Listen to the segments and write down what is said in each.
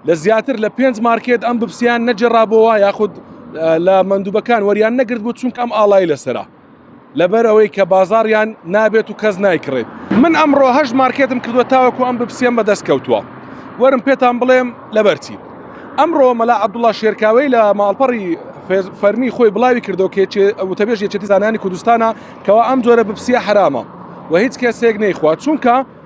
لە زیاتر لە پێنج مارکێت ئەم ببسیان نەجێڕابەوە یاخود لە مندوبەکان وەریان نەگرت بوو چونکە ئەم ئاڵای لەسرە لەبەر ئەوەی کە بازاڕیان نابێت و کەس نایکڕێت من ئەمڕۆ هەش مارکێتم کردوە تاوەکو ئەم ببسیەم بەدەست کەوتووە وەرم پێتان بڵێم لەبەرچی ئەمڕۆ مەلا عبدوڵا شێرکاوی لە ماڵپەڕی فەرمی خۆی بڵاوی کردو کێچێ وتەبێژ یەکێتی زانانی کوردستانە کەوا ئەم جۆرە بپسیە حرامە و هیچ کەسێک نەیخوا چونکە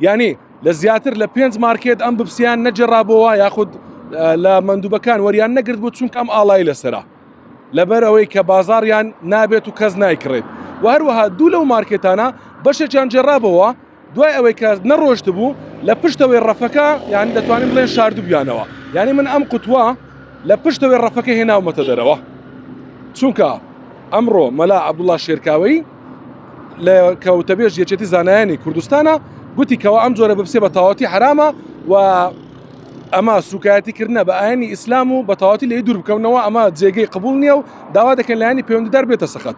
یانی لە زیاتر لە پێنج مارکێت ئەم بپسیان نەجێڕابەوە یاخود لە مندوبەکان وەریان نەگرت بۆ چونکە ئەم ئاڵای لەسرە لەبەر ئەوەی کە بازاریان نابێت و کەس نایکڕێت و هەروەها دوو لەو مارکێتانە بەشێکیان جێڕابەوە دوای ئەوەی کە نەڕۆشت بوو لە پشتەوەی ڕەفەکە یان دەتوانین بڵێن شاردوبیانەوە یعنی من ئەم قوتووە لە پشتەوەی ڕەفەکە هێناومەتە دەرەوە چونکە ئەمڕۆ مەلا عبدوڵا شێرکاوی لە کە وتەبێژ یەکێتی زانایانی کوردستانە گوتی کەەوە ئەم جۆرە بپسێ بە تاواتی حرامە و ئەمە سوکایەتی کردنە بە ئاینی ئیسلام و بەتەواتی لێ دوور بکەونەوە ئەمە جێگەی قبول نییە و داوا دەکەن لایانی پەیوەندیدار بێتە سەخت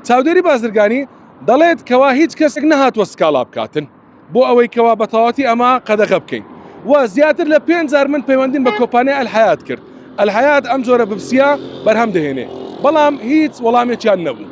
چاودێری بازرگانی دەڵێت کەوا هیچ کەسێک نەهاتوە سکاڵا بکاتن بۆ ئەوەی کەوا بەتەواتی ئەمە قەدەغە بکەین و زیاتر لە پێنجار من پەیوەندیم بە کۆپانیا ئەلحیات کرد ئەلحیات ئەم جۆرە بپسیە بەرهەم دەهێنێ بەڵام هیچ وەڵامێکیان نەبوو